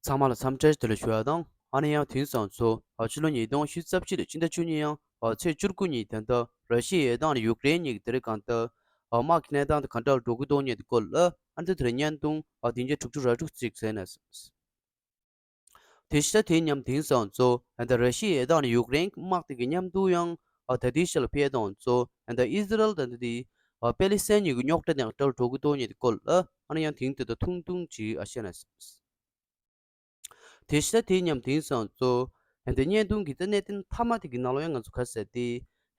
ཚང་མ་ལ་འཚམས་འདྲིར་དེ་ལ་ཞུ་བ་དང་ཨ་ནེ་ཡང་དེང་སང་ཚོ་ཕྱི་ལོ་ཉིས་སྟོང་བཞི་རྩ་གཅིག་ལོ་སྤྱི་ཟླ་བཅུ་གཉིས་ཡང་ཚེས་བཅུར་སྐུ་ཉིད་དེ་ལྟར་ར་ཤི་ཡའི་དང་ཡུག་རེན་གཉིས་ཀྱི་དེ་རིང་གང་ལྟར་དམག་གི་གནས་སྟངས་དེ་གང་འདྲ་ལ་འགྲོ་གི་འདུག་སྙན་དུ་བཀོད་ལ་ཨ་ནེ་དེ་ལ་བརྙན་ཐུང་བདུན་བརྒྱ་དྲུག་ཅུ་ར་དྲུག་བརྩིགས་ཟེར་ནས་དེ་ཤི་ད་དེ་མཉམ་དེང་སང་གཙོ་ཨན་ད་ར་ཤི་ཡའི་དང་ཡུག་རེན་དམག་དེ་གི་མཉམ་དུ་ཡང་ཨ་ད་དེ་ཤི་ལ་ཕེ་དང་གཙོ་ཨན་ད་ཨིས་ར་ཨེལ་དང་ད་དེ་པེ་ལི་སེན་གཉིས་གི་རྙོག་དྲ་དང་དྲལ་འགྲོ་གི་དོ་ཉེ་དེ་ཀོལ་ཨ་ཨན་ཡང་དེང་དེ་ད་ཐུང་ཐུང་གི་ཨ་ཤེ་ན་སམ། དེ་ཤི་ད་དེ་མཉམ་དེང་སང་གཙོ་ཨན་ད་བརྙན་ཐུང་གི་རྩ་གནད་དེ་མཐའ་མ་དེ་གི་ནང་ལོ་ཡང་ང་ཚོ་ག་ཟེར་ཏེ་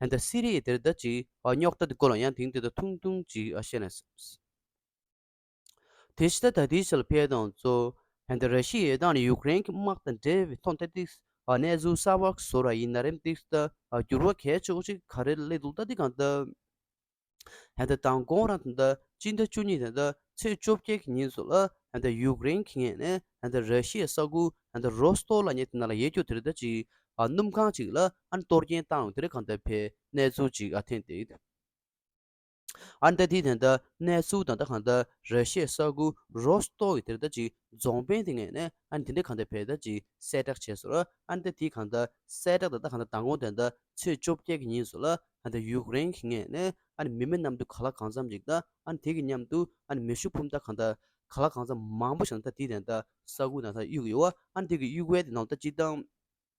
ཨན་ད་སི་རི་ཡའི་དེར་ད་ཅི་ཨ་རྙོག་དྲ་དེ་ཀོལ་ཨ་ཡང་དེང་དེ་ད་ཐུང་ཐུང་གི་ཨ་ཤེ་ན་སམ། དེ་ཕྱི་ད་ལྟ་ཏི་སེལ་ཕེ་དང་གཙོ་ཕན་ད་ར་ཤི་ཡའི་དང་ཡུག་རེན་གྱི་དམག་དང་འབྲེལ་བའི་ཐོག་མཐའ་ཏི་སེ་ཨ་གནས་ཚུལ་གསར་བ་བཟོ་ར་ཡིན་ན་རེམ་ཏི་སེ་ད་ཨ་འགྱུར་བ་གས་ཆོག་ཅིག་ག་རེ་ལས་འདུག་ད་ཏི་གང་ལྟ་བུ་ད་ད་དང་དགོང་རང་ད་ད་སྤྱི་ད་བཅུ་གཉིས་ད་ད་ཚེས་བཅོ་བརྒྱད་ཀྱི་ཉིན་སུ་ལ་ད་ད་ཡུག་རེན་གྱི་ངས་ནས་ད་ད་ར་ཤི་ཡའི་ས་ཁུལ་ད་ད་རོ་སི་ཏོ་ལ་ཉེ་ཐེ་ན་ལ་ཡའི་རྒྱུ་དེ་རི་ད་ཅིག་ཨ་སྣུམ་ཁང་ཅིག་ལ་ཨ་གཏོར་སྐྱེན་བཏང་ཡོང་དེ་རི་གང་ལྟ་བུ་ཕེ་གནས་ཚུལ་ཅིག་ཨ་ཐེན་ཏི། ཨར་མདའ་འདི་དེ་འདྲ་གནས་ཚུལ་དང་འདྲ་གང་འདྲ་རེད་ཤེས་ས་ཁུ་རོ་སྟོ་གི་དེར་ལྟ་ཅིག་རྫོང་དཔོན་དེ་ངས་ནས་ཨར་འདི་འདྲ་གང་འདྲ་བེད་ལྟ་ཅིག་གསལ་བསྒྲགས་བྱས་སོ་ཨར་མདའ་དེ་གང་འདྲ་གསལ་བསྒྲགས་དང་འདྲ་གང་འདྲ་མདང་དགོང་དེ་འདྲ་ཚེས་བཅོ་བརྒྱད་ཀྱི་ཉིན་སོ་ལ་ཨར་འདྲ་ཡུག་རེན་གིས་ངས་ནས་ཨར་མི་མེད་གནམ་དུ་ག་ལ་གང་འཚམ་ཅིག་འདྲ་ཨར་དེ་གི་མཉམ་དུ་ཨར་མི་ཤུགས་འཕུམ་འདྲ་གང་འདྲ་ག་ལ་གང་འཚམ་མང་པོ་ཞིག་འདྲ་དེ་དེ་འདྲ་ས་ཁུ་ནང་ས་གཡུག་ཡོད་ཨར་དེ་གི་གཡུག་བས་དེ་ནང་ལྟ་ཅིག་དང།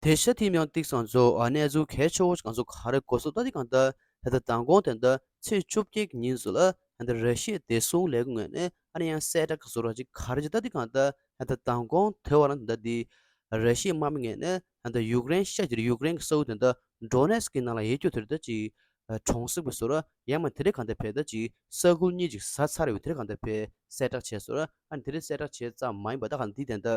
དེ་ཤ་ཐིམ་ཡང་ཏིག་སང་ཇོ་ཨ་ནེ་ཛུ་ཁའི་ཆོ་གང་ཟུ་གང་རེ་གོ་སོ་ད་ཏི་གང་ཏི་ད་ཏི་དང་གོང་དེ་ཏི་ཚེས་བཅོ་བརྒྱད་ཀྱི་ཉིན་ཟུ་ལ་ད་ཏི་རེ་ཤེས་དེ་སུང་ལེ་གུ་ངེ་ནེ་ཨ་ནེ་ཡང་སེ་ད་ག་ཟུ་ར་ཅི་ག་རེ་ཅི་ད་ཏི་གང་ཏི་ད་ཏི་དང་གོང་དེ་བ་རང་ད་ཏི་རེ་ཤེས་མ་མི་ངེ་ནེ་ད་ཏི་ཡུག་རེན་ཤ་ཅིར་ཡུག་རེན་གི་སོའུ་དེ་ཏི་འབྲོ་ནེ་སི་ཀི་ནང་ལ་ཡེ་ཁྱོ་དེ་རེ་ད་ཅི་གྲོང་གསེབ་གི་ཟུ་ར་ཡ་མ་དེ་རེ་གང་ཏི་བེ་ད་ཅི་ས་ཁུལ་གཉིས་ཅིག་ཟ་ཚར་ཡོད་དེ་རེ་གང་ཏི་བེ་སེ་གྲགས་བྱེད་ཟུ་ར་ཨ་ནེ་དེ་རེ་སེ་གྲགས་བྱེད་ཙམ་མ་ཡིན་པ་ད་གང་ཏི་དེ་ཏི།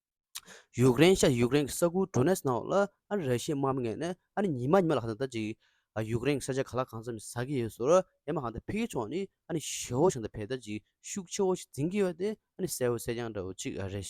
ཡུཀ་རེན་ཤ་ཡུཀ་རེན་གྱི་ས་ཁུལ་ཏྲུ་ནེས་ནའོ་ལ་ཨ་རི་ར་ཤི་དམག་མི་ངན་ནས་ཨ་རི་ཉི་མ་ཉི་མ་ལ་ཧང་ད་ད་ཅིག་ཡུཀ་རེན་གྱི་ས་ཆ་ག་ལ་གང་ཙམ་ཟ་གི་ཡོད་ཟུར་ཡ་མ་ཧང་ད་ཕིག་གི་ཕྱོགས་ནི་ཨ་ནི་ཞི་བོ་ཞིང་ད་བས་ད་ཅིག་ཤུགས་ཆེ་བོ་ཞིག་འཛིན་གི་ཡོད་དེ་ཨ་ནི་གསལ་བོ་གསལ་རྐྱང་འདྲ་བོ་ཅིག་རེད།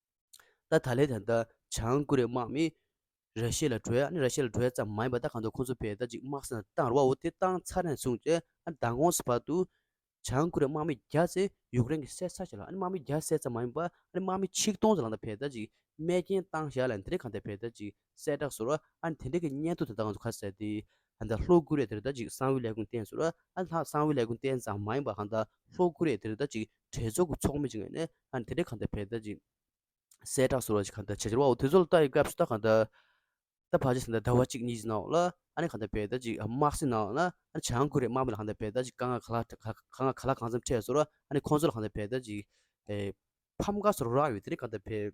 ད་ད་ལས་ད་ལྟ་བྱང་ཀོ་རེ་དམག་མིས་ར་ཤི་ཡ་ལ་བྲོས་ཨ་ནི་ར་ཤི་ཡ་ལ་བྲོས་ཡ་ཙམ་མ་ཡིན་པ་ད་གང་དུ་ཁོང་ཚོ་བེད་ད་ཅིག་དམག་སེང་ལ་བཏང་རོགས་བོ་དེ་བཏང་ཚར་ནས་བཟུང་སྟེ་ཨ་ད་གོང་ས་བར་དུ་བྱང་ཀོ་རེ་དམག་མི་བརྒྱ་ཚེ་ཡུག་རེན་གི་གསད་ཚར་བྱས་ལ་ཨ་ནི་དམག་མི་བརྒྱ་གསད་ཙམ་མ་ཡིན་པ་ཨ་ནི་དམག་མི་ཆིག་སྟོང་ཚེ་ལང་ད་བེད་ད་ཅིག་རྨས་སྐྱེན་བཏང་བཞག་ལ་འདི་རིགས་གང་ད་བེད་ད་ཅིག་གསལ་བསྒྲགས་སུ། ཨ་ནི་དེ་འདྲ་གི་སྙན་ཐོ་དེ་དག་ང་ཚོ་ཁ་གསལ་ཏེ། ཨ་ད་ལྷོ་ཀོ་རེ་དེར་ད་ཅིག་གསང་བའི་ལས་ཁུངས་བསྟན་ཟེར། ཨ་ལྷག་གསང་བའི་ལས་ཁུངས་བསྟན་ཙང་མ་ཡིན་པ་གང་ད་ལྷོ་ཀོ་རེ་དེར་ད་ཅིག་གྲོས་ཚོགས་ཀྱི་ཚོགས་མི་ཅིག་ངེས་ནས་ཨ་ནི་དེ་འདྲ་གང་ད་བས་ད་ཅིག། གསལ་བསྒྲགས་སུ་ར་ཅིག་གང་ད་བྱེད་ཟེར་བའོ་དེ་ཚོ་ལ་ད་ཡི་སྐབས་སུ་ད་གང་ད། ད་བར་ཆད་ཟེར་ད་ཟླ་བ་གཅིག་གཉིས་ཀྱི་ནང་ལ་ཨ་ནི་གང་ད་བས་ད་ཅིག་དམག་སྲི་ནང་ལ་ཨ་ནི་བྱང་ཀོ་རེ་དམག་མི་ལ་གང་ད་བས་ད་ཅིག་དཀའ་ངལ་ག་ལ་ག་ལ་གང་འཚམས་འཕྲད་ཟེར། ཨ་ནི་ཁོང་ཚོ་ལ་གང་ད་བས་ད་ཅིག། ཕམ་ཁ་སོགས་རོགས་རམ་ཡོད་དེ་འདྲ་གང་ད་བས།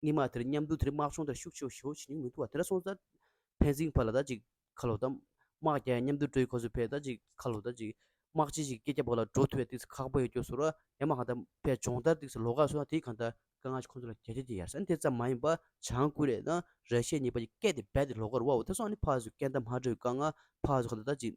སྙིགས་མ་དེར་མཉམ་འདུག་དེར་དམག་སྦྱོང་དེར་ཤུགས་ཆེ་བ་ཞི་བ་བྱེད་མྱོང་མི་འདུག་བ་དེ་ལ་སོང་ཙང། ཕན་ཚིག་བར་ལ་ད་ཅིག་ཁ་ལོ་བསྡམས། དམག་རྒྱག་ཡང་མཉམ་འདུག་སྤྲོ་ཡི་ཁ་ཟུར་ཕས་ད་ཅིག་ཁ་ལོ་ད་ཅིག། དམག་སྤྱི་ཞིག་སྐད་རྒྱག་པ་ལ་འགྲོ་ཐུབ་པའི་དུས་སུ་ཁག་པོ་ཡོད་རྒྱུ་ཟུར་བ་ཡ་མ་གང་ད་ཕས་སྦྱོང་བརྡར་དུས་སུ་ལོ་ཁར་སོང་ན་དེའི་གང་ད། དཀའ་ངལ་ཁོ་ཚོ་ལ་གལ་ཆེ་དེ་ཡ་ས་དེ་ཙམ་མ་ཡིན་པར་བྱང་སྐུ་རེ་དང་རེ་ཤས་གཉིས་པ་ཀྱི་སྐད་དེ་རྦད་དེ་ལོ་ཁར་བ་བོ་དེ་སོང་ནི་ཕག་ཟུག་སྐད་འདམ་ཧ་འདྲེ་བའི་དཀའ་ངལ་ཕག་ཟུག་གང་ད་ད་ཅིག།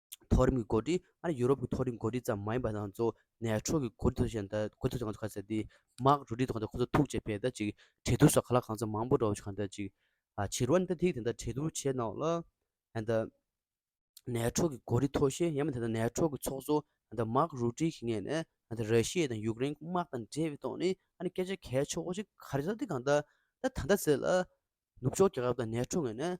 མཐོ་རིམ་གྱི་གོ་སྒྲིག་ཨ་རིའི་ཡུ་རོབ་ཀྱི་མཐོ་རིམ་གོ་སྒྲིག་ཙམ་མ་ཡིན་པ་དང་གཙོ་བོ་ནས་ཕྲུག་གི་གོ་སྒྲིག་དང་གོ་སྒྲིག་ཚོགས་ཁང་ཁ་ཟས་དེ་དམག་རུ་སྒྲིག་ཚོགས་ཁང་དེ་ཁོ་ཚོ་ཐུགས་བཅད་པས་ད་ཅིག་གྲལ་བསྡུར་སོགས་ག་ལ་གང་ཚ་མང་པོ་འགྲོ་བཞིན་ཁ་ད་ཅིག་ཕྱི་རོལ་ནས་ད་ཐིག་དེ་འདྲ་གྲལ་བསྡུར་བྱས་གནང་ལ། ད་ནས་ཕྲུག་གི་གོ་སྒྲིག་མཐོ་ཤས་ཡང་མེད་ད་ནས་ཕྲུག་གི་ཚོགས་གཙོ་ད་དམག་རུ་སྒྲིག་གི་ངེས་ནས་ད་ར་ཤི་ཡའི་དང་ཡུག་རེན་གྱི་དམག་དང་འབྲེལ་བའི་ཐོག་ནས་ཨ་ནི་སྐད་ཆ་གལ་ཆོག་པོ་ཞིག་ག་རེ་ད་ཐིག་གང་ད་ད་ད་ད་ཟེར་ལ། ནུབ་ཕྱོགས་རྒྱལ་ཁབ་ད་ནས་ཕྲུག་ངེས་ནས་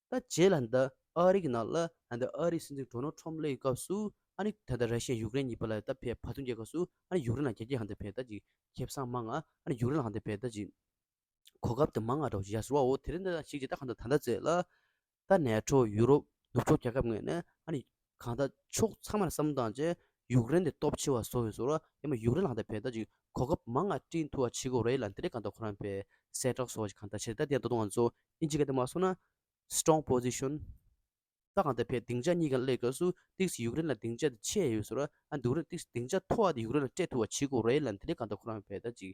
ད་རྗེས་ལ་འདི་ཨ་རིག་ནང་ལ་འདི་ཨ་རིག་སྲིད་འཛིན་གྲོ་ནོ་ཁྲོམ་ལེའི་སྐབས་སུ་ཨ་ནི་ད་ད་ར་ཤི་ཡ་ཡུག་རེན་གཉིས་པ་ལ་ད་ཕེ་བྷ་ཐུང་རྒྱལ་ཁབ་སུ་ཨ་ནི་ཡུག་རེན་ལ་རྒྱ་རྒྱ་ཧ་འདི་ཕེ་ད་ཅིག་ཁེ་བསང་མ་ང་ཨ་ནི་ཡུག་རེན་ལ་ཧ་འདི་ཕེ་ད་ཅིག་གོ་སྐབས་འདི་མ་ང་དྲོ་ཞེས་ཟེར་བ་འོ་དེ་རིང་འདི་ད་ཞིག་ཅེས་ད་ག་འདི་ད་འདི་ཟེར་ལ་ད་ནས་ཁྲོ་ཡུ་རོབ་ནུབ་ཕྱོགས་རྒྱལ་ཁབ་ངོས་ནས་ཨ་ནི་གང་ལྟར་ཕྱོགས་ཚང་མར་བསམ་བློ་བཏང་རྗེས་ཡུཀ་རེན་གྱི་སྟོབས་ཆེ་བ་བཟོ་འོས་ཟེར་བ། ཡུཀ་རེན་ལ་གང་ལྟར་བལ་ཐ་ཅིག་གོ་སྐབས་མང་ང་བཀྲིན་ཐུ་བ་ཆི་གོ་རེ་ལ་འདི་རེ་གང་ལྟར་ཁོ་རང་བལ་གསལ་བསྒྲགས་སོགས་གང་ལྟར་བྱེད་རེ་ད་ལྟའི་ད་དུང་ང་ཚོ་ཨིན་ཇི་ག་དེ་མ་སོང་ན། Strong Position། ད་གང་ལྟར་བལ་སྡིངས་ཆ་གཉིས་ཀ་གླེགས་སྐབས་སུ་ཏིག་སི་ཡུཀ་རེན་ལ་སྡིངས་ཆ་དེ་ཆེ་ཡོད་ཟེར་བ། ཨ་འདུག་རེད་ཏིག་སི་སྡིངས་ཆ་མཐོ་བ་དེ་ཡུཀ་རེན་ལ་སྤྲད་ཐུ་བ་ཆི་གོ་རེ་ལ་འདི་རེ་གང་ལྟར་ཁོ་རང་བལ་ཐ་ཅིག་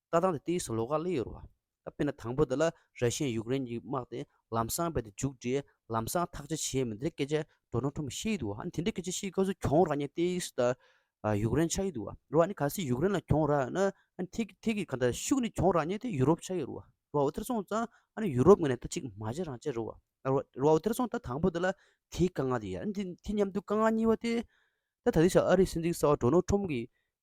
ལྟ་སྟངས་དེ་དེའི་སུ་ལོ་ག་གླེ་ཡོད་རེད་བ། དཔེར་ན་དང་པོ་དེ་ལ་ར་ཤི་ཡས་ཡུཀ་རེན་གྱི་དམག་དེ་ལམ་སང་བས་ཏེ་འཇུག་འདྲེས་ལམ་སང་ཐག་ཆ་བྱས་མི་འདི་སྐད་ཆ་འགྲོ་གྲོན་ཐོབ་མི་ཤེས་ཡི་འདུག་བ་ཨ་ནི་དེ་འདྲའི་སྐད་ཆ་བཤད་སྐབས་སུ་གྱོང་རག་ཉེན་ཏེ་ཡིས་ད་ཡུཀ་རེན་ཆགས་ཡི་འདུག་བ་རེད་བ་ཨ་ནི་ག་སྲིད་ཡུཀ་རེན་ལ་གྱོང་རག་ཡོད་ན་ཨ་ནི་ཐེ་གི་ཐེ་གི་ག་ད་ཤུགས་ནི་གྱོང་རག་ཉེན་ཏེ་ཡུ་རོབ་ཆགས་ཡི་རུ་བ་རེད་བ་ཨོ་དེར་སོང་ཙང་ཨ་ནི་ཡུ་རོབ་ངོས་ནས་ད་གཅིག་མ་བྱས་རང་བྱས་རེད་བ་རེད་བ་ཨོ་དེར་སོང་ད་དང་པོ་དེ་ལ་དེའི་དཀའ་ངལ་དེ་ཡིན་ཨ་ནི་དེ་མཉམ་དུ་དཀའ་ངལ་གཉིས་བ་སྟེ། ད་ད་དེ་ཞག་ཨ་རིའི་སྲིད་འཛིན་གསར་བ་འགྲོ་ནོར་ཁྲོམ་གྱིས་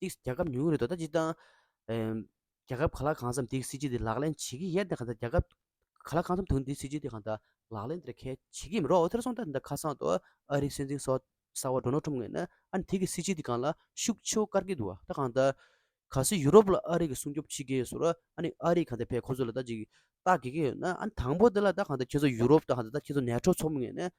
ཏིག་རྒྱ་ཁབ་ཉུང་ངུ་རེད་དོ་ད་སྤྱིར་བཏང་རྒྱ་ཁབ་ག་ལ་གང་བསམ་ཏིག་སྲིད་ཇུས་དེ་ལག་ལེན་བྱེད་ཀྱི་ཡད་དེ་གང་ད་རྒྱ་ཁབ་ག་ལ་གང་བསམ་དུང་ཏིག་སྲིད་ཇུས་དེ་གང་ད་ལག་ལེན་དེར་ཁལ་བྱེད་ཀྱི་མི་རོགས་ཐེར་ཟོང་ད་ད་ཁ་སང་དུ་ཨ་རིག་སྲིད་འཛིན་སོགས་གསར་བ་འགྲོ་ནོར་འཁྲུམ་ངེས་ན་ཨ་ནི་ཐིག་གི་སྲིད་ཇུས་དེ་གང་ལ་ཤུགས་ཆེའུ་བཀར་གྱི་འདུག་ད་གང་ད་ག་སི་ཡུ་རོབ་ལ་ཨ་རིག་གི་སྲུང་སྐྱོབ་བྱེད་ཀྱི་ཡོད་ཟུར་ཨ་ནི་ཨ་རིག་གང་ད་བས་ཁོ་ཚོ་ལ་ད་ཅིག་བལྟ་དགོས་ཀྱི་ཡོད་ན་ཨ་ནི་དང་པོ་དེ་ལ་ད་གང་ད་ཁྱེད་ཚོ་ཡུ་རོབ་ད་གང་ད་ད་ཁྱེད་ཚོ་ནད་འཕྲོ་ཚོགས་མི་ངེས་ན་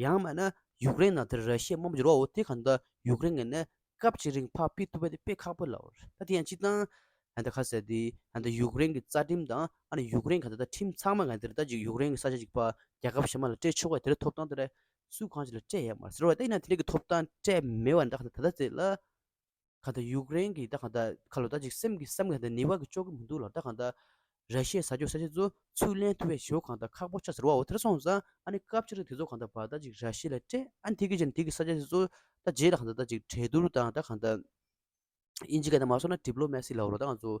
ཡང་མིན་ན་ཡུཀ་རེན་ནང་དེར་ར་ཤི་ཡའི་དམག་མི་འགྱུར་བའོ་དེ་གང་འདྲ་ཡུཀ་རེན་ངས་ནི་སྐབས་ཅིག་རིང་ཕག་དཔེ་ཐུག་པ་དེ་དཔེ་ཁག་པོ་ལའོ་ད་དེ་ཡང་ཅིག་དང། ཨ་ད་ཁ་ཟེར་དེ་ཨ་ད་ཡུཀ་རེན་གྱི་རྩ་ཁྲིམས་དང་ཨ་ན་ཡུཀ་རེན་ག་ད་ད་ཁྲིམས་ཚང་མ་ང་དེར་ད་ཅིག་ཡུཀ་རེན་གྱི་ས་ཆ་ཅིག་པ་རྒྱ་ཁབ་གཞན་མ་ལ་སྤྲད་ཆོག་ག་དེར་ཐོབ་ཐང་དེ་ར་སུ་གང་ཅིག་ལ་སྤྲད་ཡ་མ་ཟེར་བ་ད་ཡིན་ན་དེ་རིགས་ཀྱི་ཐོབ་ཐང་སྤྲད་མེད་བ་འདྲ་ག་ད་ད་ད་ཟེར་ལ། ག་ད་ཡུཀ་རེན་གྱི་ད་ག་ད་ཁ་ལོ་ད་ཅིག་སེམས་ཀྱི་སེམས་ཀྱི་ག་ད་ནི་བར་གྱི་ཅོག་གི་མི་འདུག་ལ་ད་ག་ད་ར་ཤའི་ཟ་ཅོག་ཟ་བྱེད་ཚོ་ཚུར་ལེན་ཐུབ་བས་ཞོ་གང་ད་ཁག་པོ་ཆ་ཟེར་བའོ་དེར་སོང་ཙང་ཨ་ནི་སྐབས་ཕྱི་རུ་དེ་ཚོ་གང་ད་བར་ད་ཅིག་ར་ཤའི་ལ་སྤྲད་ཨ་ནི་དེ་གི་ཕྱིར་ནི་དེ་གི་ས་ཆ་བྱེད་ཚོ་ད་རྗེས་ད་ག་ད་ད་ཅིག་གྲལ་བསྡུར་དང་ད་ག་ད་ཨིན་ཇི་ག་ད་མ་སོང་ན་དྲིབ་ལོ་མེ་སི་ལ་བོ་རོ་ད་ང་ཚོ།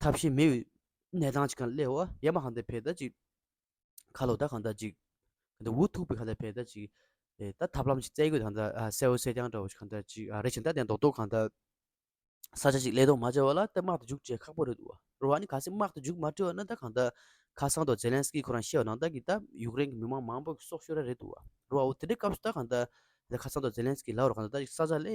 ཐབས་ཤེས་མེད་པའི་གནས་སྟངས་ཅིག་གང་སླེ་བ་ཡ་མ་གང་ད་བས་ད་ཅིག་ཁ་ལོ་ད་གང་ད་ཅིག་གང་ད་འུ་ཐུག་པའི་གང་ད་བས་ད་ཅིག་ད་ཐབས་ལམ་ཅིག་བཙལ་དགོས་གང་ད་གསལ་བོ་སེ་རྐྱང་འདྲ་བོ་ཅིག་གང་ད་ཅིག་རེད་བྱས་ད་དེ་རྡོག་རྡོག་གང་ད་ས་ཆ་ཅིག་སླེ་རྡོག་མ་བྱས་བ་ལ་ད་དམག་ཏུ་འཇུག་བྱས་ཁག་པོ་རེད་འདུག་བ་ནི་ག་སེ་དམག་ཏུ་འཇུག་མ་བྲིས་བ་ན་ད་གང་ད་ཁ་སང་ཏོག་ཛེ་ལན་སི་ཀི་ཁོ་རང་ཤེས་བ་ནང་ད་གི་ད་ཡུཀ་རེན་གི་མི་དམངས་མང་པོ་གི་སྲོག་ཤོར་ར་རེད་འདུག་བ་རོ་བ་འོ་དེ་འདྲའི་སྐབས་སུ་ད་གང་ད་ད་ཁ་སང་ཏོག་ཛེ་ལན་སི་ཀི་ལགས་རོ་གང་ད་ད་ཅིག་ས་ཆ་སླེ་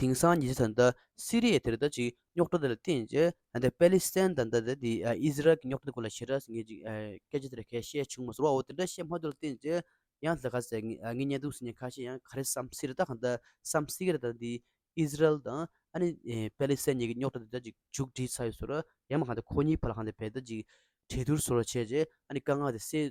དེང་སང་ཉེ་ཆར་ད་ལྟ་སི་རི་ཡའི་དེར་ད་ཅིག་རྙོག་དྲ་དེ་ལ་བརྟེན་ཅེས་ད་ལྟའི་པེ་ལི་སི་ཐན་དང་ད་ལྟའི་ཨིས་ར་ཨེལ་གྱི་རྙོག་དྲ་དེ་སྐོར་ལ་ཞེ་དྲགས་སུ་ངས་ཅིག་སྐད་ཆ་དེ་ལ་གས་བཤད་བྱུང་མ་སོང་བའོ་དེ་འདྲ་བཤད་མ་ཐུབ་ལ་བརྟེན་ཅེས་ཡང་ད་ག་ཟེ་ངས་བརྙན་ཐུང་ཟིན་ནས་ཁ་ཤས་ཡང་ག་རེ་བསམ་སི་རི་ད་གང་ད་བསམ་སི་ཀ་རེ་ད་ནི་ཨིས་ར་ཨེལ་དང་ཨ་ནི་པེ་ལི་སི་ཐན་གཉིས་ཀྱི་རྙོག་དྲ་དེ་ད་ཅིག་མཇུག་བསྒྲིལ་ཚར་ཡོད་ཟེར་རོ་ཡང་མ་གང་ད་ཁོ་གཉིས་བར་ལ་གང་ད་བས་ད་ཅིག་གྲོས་བསྡུར་ཟེར་བ་བྱས་རྗེས་ཨ་ནི་དཀའ་ངལ་དེ་སེལ་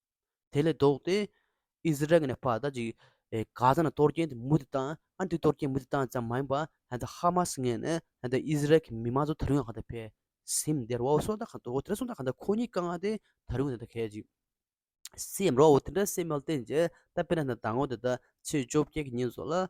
དེ་ལས་ལྡོག་སྟེ། ཨིས་ར་ཨེལ་ནས་ཕར་ལྟ་ཅིག། གྷ་ཛ་ན་གཏོར་སྐྱོན་དེ་མུ་མཐུད་བཏང། ཨ་མཐུད་གཏོར་སྐྱོན་མུ་མཐུད་བཏང་ཙམ་མ་ཡིན་པར། ད་ལྟ་ཧ་མ་སི་ངས་ནི། ད་ལྟ་ཨིས་ར་ཨེལ་གྱི་མི་མང་ཚོ་ད་རུང་ཡང་གང་དུ་ཕེབས། སིམ་དེ་རོའུ་སོ་ད་གང་དུ་འོ་དེ་ར་སོང་ད་གང་དུ་ཁོ་གཉིས་དཀའ་ངལ་དེ་ད་རུང་ད་ད་གས་ཅིག། སིམ་རོའུ་དེ་འདྲ་སིམ་མེལ་ཏན་ཅེས་ད་པེ་ན་ད་ད་ངོ་ད་ད་ཚེས་བཅོ་བརྒྱད་ཀྱི་ཉིན་བཟོ་ལ།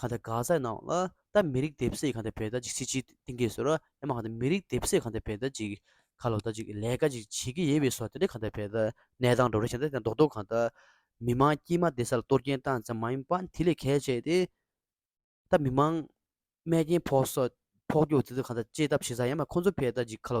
གང་དེ་ག་ས་ནང་ལ་ད་མི་རིགས་དེབ་སེ་གང་དེ་བས་ད་ཅིག་སི་ཆིའི་ཏིང་གེ་ཟེར་རོ་ཡ་མ་གང་དེ་མི་རིགས་དེབ་སེ་གང་དེ་བས་ད་ཅིག་ག་ལོ་ད་ཅིག་ལས་ཀ་ཅིག་བྱེད་ཀི་ཡེད་བས་སོ་དེ་འདྲ་གང་དེ་བས་ད་ནད་དང་འགྲོ་རེ་བྱེད་ད་དེ་མདོག་མདོག་གང་ད་མི་མང་དཀྱིལ་མ་དེ་ས་ལ་གཏོར་སྐྱེན་བཏང་ཙམ་མ་ཡིན་པ་དེ་ལས་གལ་ཆེ་དེ་ད་མི་མང་རྨས་སྐྱེན་ཕོག་སོ་ཕོག་རྒྱུ་དེ་ད་གང་ད་བཅད་ཐབས་བྱེད་ས་ཡ་མ་ཁོང་ཚོ་བས་ད་ཅིག་ག་ལོ་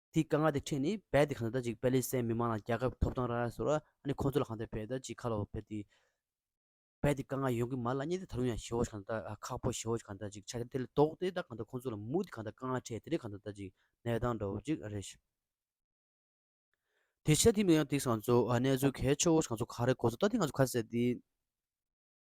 དེའི་དཀའ་ངལ་དེ་འཕྲད་ནས་བལ་དེ་གང་འདོད་ལྟ་ཅིག་པེ་ལི་སའི་མི་མང་ལ་རྒྱལ་ཁབ་ཐོབ་ཐང་རག་ཡ་ཟེར་བ་ཨ་ནི་ཁོང་ཚོ་ལ་གང་འདོད་བལ་ལྟ་ཅིག་ཁ་ལོ་བ་བལ་དེ་བལ་དེ་དཀའ་ངལ་ཡོང་གི་མ་ལ་གཉིད་དེ་ད་རུང་ཡང་ཞི་བ་ཞིག་གང་འདོད་ལྟ་ཁག་པོ་ཞི་བ་ཞིག་གང་འདོད་ལྟ་ཅིག་ཆ་དེ་ལ་དོག་དེ་ལྟ་གང་འདོད་ཁོང་ཚོ་ལ་མུག་དེ་གང་འདོད་དཀའ་ངལ་འཕྲད་དེ་རེད་གང་འདོད་ལྟ་ཅིག་ནད་དང་འདྲ་བོ་ཅིག་རེད། དེ་ཆ་དེ་མི་ཡང་དེ་གང་ཚོ་གནས་ཚུལ་གལ་ཆེ་བོ་ཞིག་གང་ཚོ་ག་རེ་གོ་ཚོ་ལྟ་དེ་གང་ཚོ་ཁ་གསལ་དེ།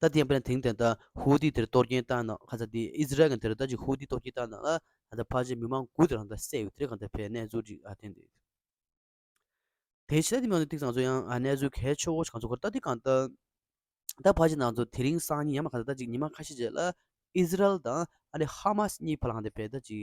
ད་ལྟའི་ཡང་པེ་ན་དེང་དེ་ལྟར་ཧུའུ་ཏི་དེར་གཏོར་སྐྱོན་བཏང་ན་ཁ་ཚ་དེ་ཨི་ཟི་རལ་གང་དེར་ད་ཅིག་ཧུའུ་ཏི་གཏོར་སྐྱོན་བཏང་ན་ལ་ད་ད་ཕར་ཆེར་མི་མང་དགུ་དེ་རང་ད་བསད་ཡོད་དེར་གང་དེར་བས་གནས་ཚུལ་ཅིག་ཨ་ཐེན་དེ་དེ་ཕྱི་ལ་དེ་མི་མང་ཏིག་ཚང་ཚོ་ཡང་གནས་ཚུལ་གལ་ཆོ་གང་ཚོ་གོ་ད་དེ་གང་ད་ད་ཕར་ཆེར་ནང་ཚོ་དེ་རིང་སང་ཉིན་ཡང་མ་ཁ་ཚ་ད་ཅིག་ཉི་མ་ཁ་ཤས་རྗེས་ལ་ཨི་ཟི་རལ་དང་ཨ་རི་ཧ་མ་སི་གཉིས་བར་ལ་གང་དེར་བས་ད་ཅིག་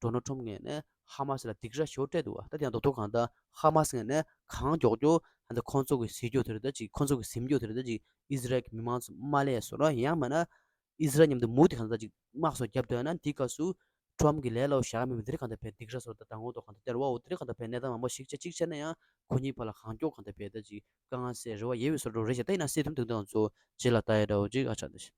འགྲོ་ནོ་ཁྲོམ་ངས་ནས་ཧ་མ་སི་ལ་སྡིག་ར་ཤོར་སྤྲད་འདུག་ད་དེའང་རྡོག་ཐོ་གང་ད་ཧ་མ་སི་ངས་ནས་གང་མགྱོགས་མགྱོགས་ད་ནས་ཁོང་ཚོ་གི་སྲིད་འགྱོགས་དེ་རུ་ད་ཅིག་ཁོང་ཚོ་གི་སེམས་འགྱོགས་དེ་རུ་ད་ཅིག་ཨིས་རལ་གི་མི་མང་ཚོ་མ་ལས་སོ་ར་ཡང་མ་ན་ཨིས་རལ་མཉམ་དུ་མུ་ཏི་གང་ད་ད་ཅིག་དམག་སོགས་རྒྱབ་འདོད་ན་འདི་སྐབས་སུ་ཁྲོམ་གི་ལས་སླ་བོ་བཞག་མི་མི་དེ་རིགས་གང་ད་བས་སྡིག་ར་སོ་ར་ད་དྲང་བོ་འདོག་གང་ད་སྟེར་བའོ་དེ་རིགས་གང་ད་བས་གནས་སྟངས་མང་པོ་ཞིག་ཆ་གཅིག་ཆ་ན་ཡང་ཁོ་གཉིས་བར་ལ་གང་མགྱོགས་གང་ད་བས་ད་ཅིག་དཀའ་ངལ་སེལ་རེ་བ་ཡེ་བའི་སོ་ར་འགྲོ་རེ་བྱ་ད་ཡིན་ན་སྲིད་དུམ་དེ་དང་ཚོ་རྗེས་ལ་ད་ཡེ་འདྲ་བོ་ཅིག་ཨ་ཆ་ད་ཞིག།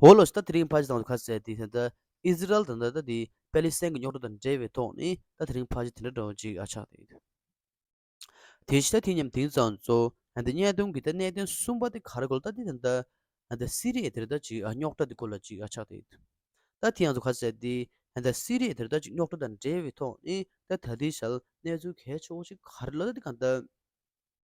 འོ་ལོ་ད་དེ་རིང་ཕ་གཞི་དང་བོ་ཁ་གསལ་དེ་ད་ཨི་ཟི་རལ་དང་ད་དེ་པེ་ལི་སེན་གི་རྙོག་དྲ་དང་འབྲེལ་བའི་ཐོག་ནས་ད་དེ་རིང་ཕ་གཞི་དེ་འདྲ་འདྲ་བོ་ཅིག་ཨ་ཆགས་ཏེ་ཡོད། དེ་བཞི་ད་དེ་མཉམ་དེང་སང་ཚོ་ད་གཉའ་གདོང་གི་ད་གནད་དོན་གསུམ་པ་དེ་ག་རེ་གོ་ལ་ད་དེ་ད་ད་སི་རི་ཡའི་དེར་ད་ཅིག་ཨ་རྙོག་དྲ་དེ་གོ་ལ་ཅིག་ཨ་ཆགས་ཏེ་ཡོད། ད་དེ་ཡང་ཚོ་ཁ་གསལ་དེ་ད་ད་སི་རི་ཡའི་དེར་ད་ཅིག་རྙོག་དྲ་དང་འབྲེལ་བའི་ཐོག་ནས་ད་ད་དེའི་ཞལ་གནས་ཚུལ་གལ་ཆེ་བོ་ཅིག་ག་རེ་ལ་ད་དེ་ག་ད།